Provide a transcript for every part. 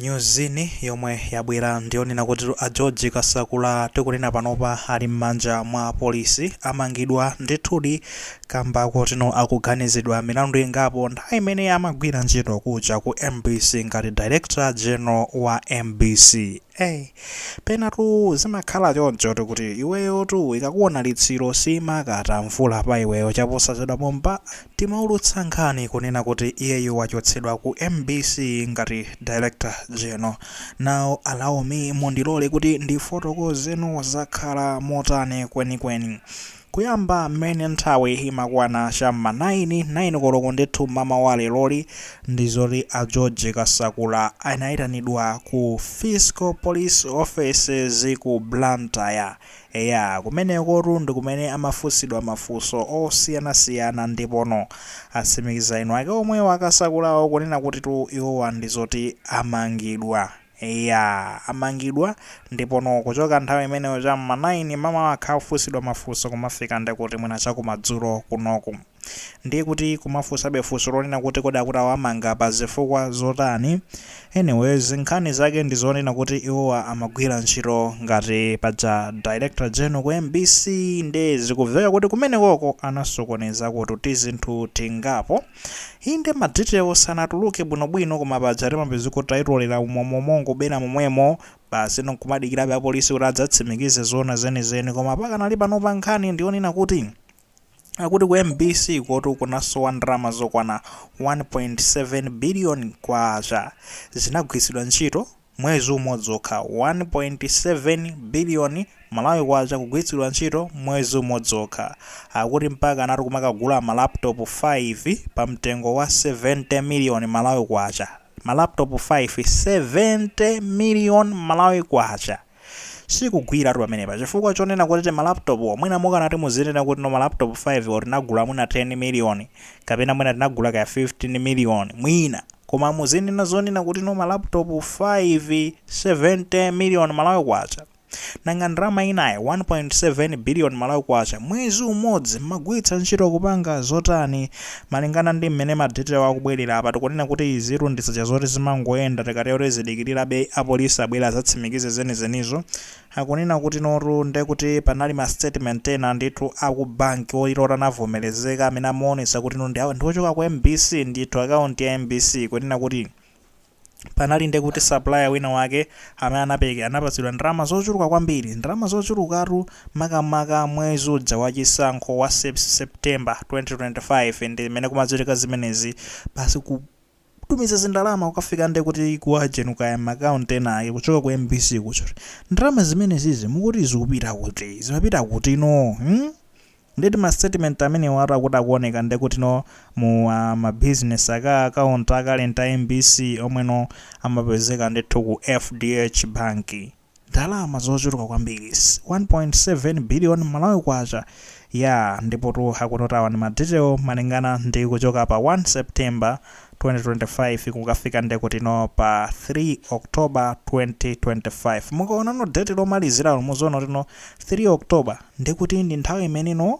Nyuzini yomwe yabwera ndiyonena kuti a George Kasakula tikunena panopa ali mmanja mwa apolisi, amangidwa ndithudi kamba kotino akuganizidwa milandu ingapo nthawi imene amagwira ntchito kuja ku mbc ngati Director General wa mbc. Hey, penatu zimakhala chonchotu kuti iweyotu ikakuona litsiro siimakata mvula pa iweyo chaposachedwa pompa timaulutsa nkhani kunena kuti iyeyo wachotsedwa ku mbc ngati director general now allow me mundilole kuti ndifotokozeno zakhala motani kwenikweni Kuyamba mmene nthawi imakwana cha m'ma 9, 9 koloko ndithu m'mama wa leroli ndi zoti a George Kasakula anaitanidwa ku Fiscal Police Offices ku Blantyre. Eya, kumenekotu ndi kumene amafunsidwa mafunso osiyanasiyana ndipono atsimikiza eni ake omwewo a Kasakulawo kunena kutitu iwowa ndi zoti amangidwa. Eya, amangidwa, ndipono kuchoka nthawi imeneyo cha m'ma 9 mamawa akhala akufunsidwa mafunso kumafika nde kuti mwina cha kumadzulo kunoku. Ndiye tikumafunsabe funso lonena kuti kodi akuti awamanga pa zifukwa zotani? Anyways, nkhani zake ndi zonena kuti iwowa amagwira ntchito ngati paja Director General ku mbc nde zikuveka kuti kumenekoko anasokonezakotu tizinthu tingapo. Inde ma details sanatuluke bwino bwino koma paja timapezeka taitolera umo umo mongobera momwemo basi no nkumadikirabe apolisi kuti adzatsimikize zoona zenizeni koma pakanali panopa nkhani ndiyonena kuti akuti ku mbc kotu kunasowa ndalama zokwana 1.7 billion kwacha zinagwiritsidwa ntchito mwezi umodzi okha, 1.7 billion Malawi Kwacha kugwiritsidwa ntchito mwezi umodzi okha. Akuti mpaka anthu kumakagula ma laptop 5 pa mtengo wa 70 million Malawi Kwacha. Ma laptop 5, 70 million Malawi Kwacha! Sikugwiratu pamenepa, chifukwa chonena kuti tima laptop mwina mukanati muzinena kuti no ma laptop 5 wo tinagula mwina 10 million, kapena mwina tinagula kaya 15 million mwina koma muzinena zonena kuti no ma laptop 5 70 million malawi kwacha nanga ndalama inayo 1.7 billion malawi kwacha mwezi umodzi mmagwiritsa ntchito kupanga zotani malingana ndi mmene madetail akubwerera apa tikunena kuti izitu ndi zija zoti zimangoyenda tikatero tizidikirirabe apolisi abwere azatsimikize zenizenizo Akunena kutinotu nde kuti panali ma statement ena ndithu aku bank oti eeh anavomerezeka amene amaonetsa kutino ndi a ndi ochoka ku mbc ndithu account ya mbc kunena kuti panali nde kuti supplier wina wake amene anapereka anapatsidwa ndalama zochuluka kwambiri ndalama zochulukatu makamaka mwezi uja wa chisankho wa sep September 2025 ndi mmene kumachitika zimenezi kutumiza zindalama kukafika nde kuti ku agent kaya m'maccount ena ake kuchoka ku mbc kuchoka ndalama zimenezizi mukuti zikupita kuti zimapita kutino hmm? ndeti ma statement amenewatu akuti akuoneka nde kutino mu ah, ma business aka account a current a mbc omweno amapezeka ndithu ku fdh banki ndalama zochuluka kwambiri 1.7 billion Malawi Kwacha yaa ndipotu akuti awa ndi ma detail malingana ndi kuchoka pa 1 September 2025 kukafika nde kuti no pa 3 October 2025 mukaonano date lomaliziralo muziona kuti no 3 October ndekuti ndi nthawi imene no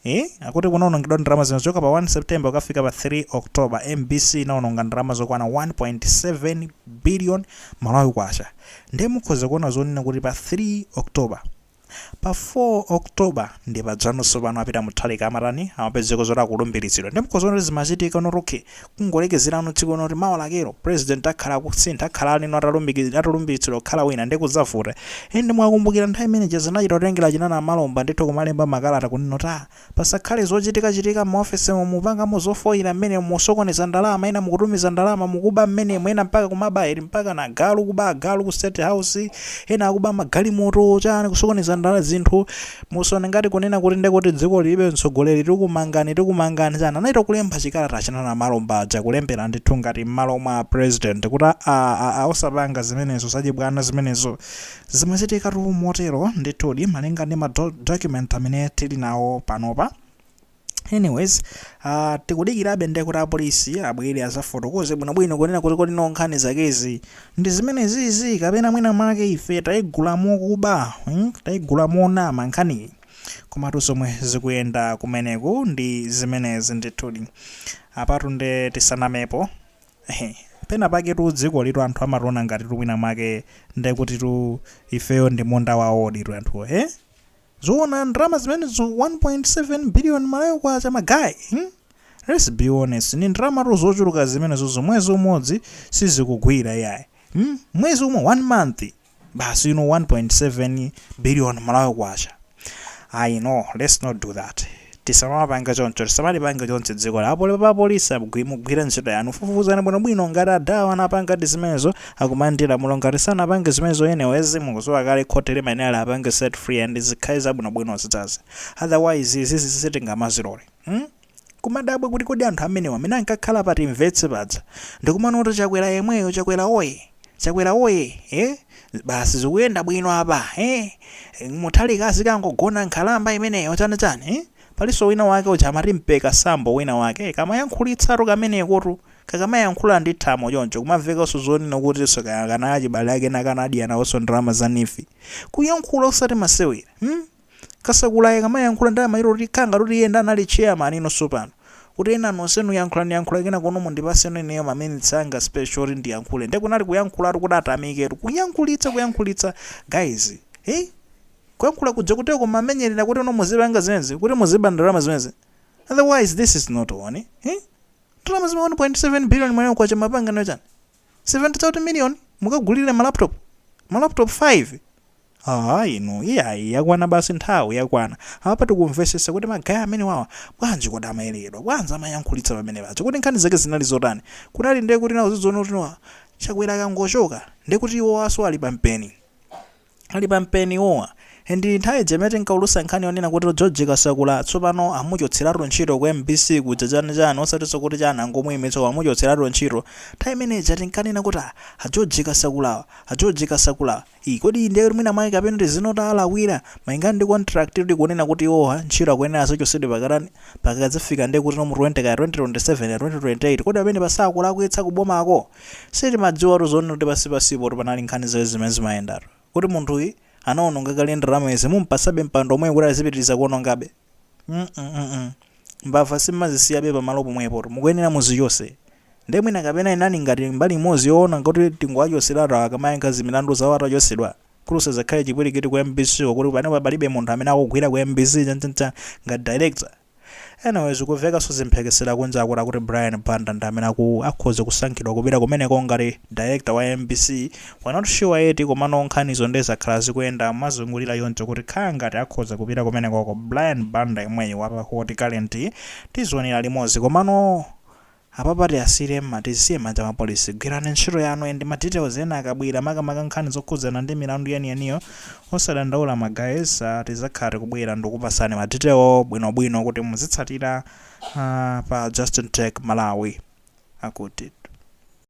Eee akuti kunaonongedwa ndalama izizo kuchoka pa 1 September kukafika pa 3 October mbc inaononga ndalama zokwana 1.7 billion Malawi kwacha nde mukhoza kuona zonena kuti pa 3 October pa 4 October nde padzana sopano a Peter Mutharika amatani amapezeka zoti akulumbiritsidwa nde mukhoza kuona kuti zimachitika not okay Kungolekezeratu tsiku loti mawa lakelo president akhala akusintha akhala ali no atalumikizidwa atalumbiritsidwa kukhala wina ndiye kudzavuta. And mukakumbukira nthawi imene ija zinachita kutengera achina Namalomba ndithu kumalemba makalata kunena kuti aah pasakhale zochitika chitika mma office mu mupangamo zofoyira mmenemo musokoneza ndalama ena mukutumiza ndalama mukuba mmenemo ena mpaka kumaba eti mpaka na agalu kuba agalu ku state house ena akuba magalimoto chani kusokoneza ndala zinthu Musaone ngati kunena kuti nde kuti dziko lilibe mtsogoleri tikumangani tikumangani chani anachita kulemba chikalata achina Namalomba aja kulembera ndithu ngati mmalo mwa president kuti aa aa osapanga zimenezo zachibwana zimenezo zimachitikatu motero ndithudi malingana ndi ma document amene tili nawo panopa anyways uh, tikudikirabe nde kuti apolisi abwere azafotokoze bwinobwino kunena kuti kodi no nkhani zakezi ndi zimenezizi kapena mwina mwake ife tayigula mokuba hmm? tayigula monama nkhaniyi komatu zomwe zikuyenda kumeneku ndi zimenezi ndithudi apatu nde tisanamepo Ehe, pena pake tu dzikolitu anthu amationa ngati tu mwina mwake nde kuti tu ifeyo ndi munda wawoditu anthuwo he Zoona ndalama zimenezo 1.7 billion malawi kwacha ma guy hmm? Let's be honest ndi ndalamatu zochuluka zimenezozo mwezi umodzi sizikugwira iyayi hmm? mwezi umo 1 month basi you know 1.7 billion malawi kwacha ayi no let's not do that Tisamawapange choncho, tisamalipange chonchi dzikoli apoli a apolisi agwi mugwire ntchito yanu fufuzani bwino bwino ngati adhawa anapangadi zimenezo akumane ndi lamulo ngati sanapange zimenezo anyways mukuziwa kale khoti limayenera liwapange set free and zikhale zabwino bwino zinazi otherwise izizi sitingamazilore mm kumadabwa kuti kodi anthu amenewa amene ankakhala pa timvetse paja ndikumanena kuti chakwera yemweyo chakwera oyee! Chakwera woyee ee basi zikuyenda bwino apa ee Mutharika azikangogona nkhalamba imeneyo chani chani ee palinso wina wake uja amati Mpeka Sambo wina wake ee kamayankhulitsatu kamenekotu kakamayankhula ndi thamo choncho kumamvekanso zonena kutinso kaya akanali achibale ake ena akanadya nawonso ndalama za neef kuyankhula osati masewera mm Kasakula akamayankhula ndi amayero kuti kha ngati kuti iye ndi anali chairman ino sopano. Kuti ena nonsenu yankhulani yankhulani kenakono mundipaseno ineyo ma minutes anga special oti ndiyankhule. Nde kunali kuyankhulatu kuti atamiketu. Kuyankhulitsa kuyankhulitsa guys. Hei? Kuyankhula kuja kuti kumamenyerera kuti no muzipanga zimenezi kuti muziba ndalama zimenezi. Otherwise this is not one. Hei? Ndalama zima 1.7 billion Malawi kwacha mwapanga nayo chani? 70 chakuti million mukagulire ma laptop ma laptop 5 aa inu iyayi yakwana basi nthawi yakwana apa tikumvesesa kuti ma guy amenewawa bwanji kodi amayerekedwa bwanji amayankhulitsa pamene paja kodi nkhani zake zinali zotani kunali nde kuti nawo azidziona kuti chakwera akangochoka ndekuti iwowaso ali pa mpeni Ali pa mpeni iwowa and nthawi ija imene tinkaulusa nkhani yonena kuti George Kasakula tsopano amuchotseratu ntchito ku mbc kuja chani chani osatinso kuti chani angomuimitsa koma amuchotseratu ntchito nthawi imene ija tinkanena kuti ah a George Kasakulawa a George Kasakulawa ii kodi ndiye kuti mwina mwake kapena kuti sanawalakwire malingana ndi contract kuti ikunena kuti iwowa ntchito akuyenera azachotsedwe pakatani pakadzafika ndiye kuti no mu 20 kaya 2027 kaya 2028 kodi pamenepa sakulakwitsa ku bomako Sitimadziwatu zonena kuti pansi pansipotu panali nkhani zake zimene zimayendatu. Kuti munthuyi anawononga kale ndalama izi mum'patsabe mpando omwewu kuti azipitiriza kuwonongabe? mm Mbava sim'mazisiyabe pamalo pomwepotu, mukuyenera muzichotse. Ndiye mwina kapena inali ngati mbali imodzi yonena kuti tingowachotseratu awa akamayankha za milandu zawo atachotsedwa? Kuti kusadzakhale chipwirikiti ku mbc ko kuti panopa palibe munthu amene akugwira ku mbc chani chani ngati director? Anyway zikuvekaso za mphekesera kunja akut akuti Brian Banda ndi amene aku akhoza kusankhidwa kupita kumeneko ngati director wa mbc we're not sure eti komano nkhanizo nde zakhala zikuyenda mozungulira choncho kuti kha ngati akhoza kupita kumenekoko Brian Banda yemweyu wa pa Hot Current tizionera limodzi komano Apapa tiasiyire mma tizisiye m'manja mwa police gwirani ntchito yanu and ma details ena akabwera makamaka nkhani zokhudzana ndi milandu yeniyeniyo osadandaula ma guys tizakhala tikubwera ndikupasani ma detail bwino bwino kuti muzitsatira pa Justin Tech Malawi akuti.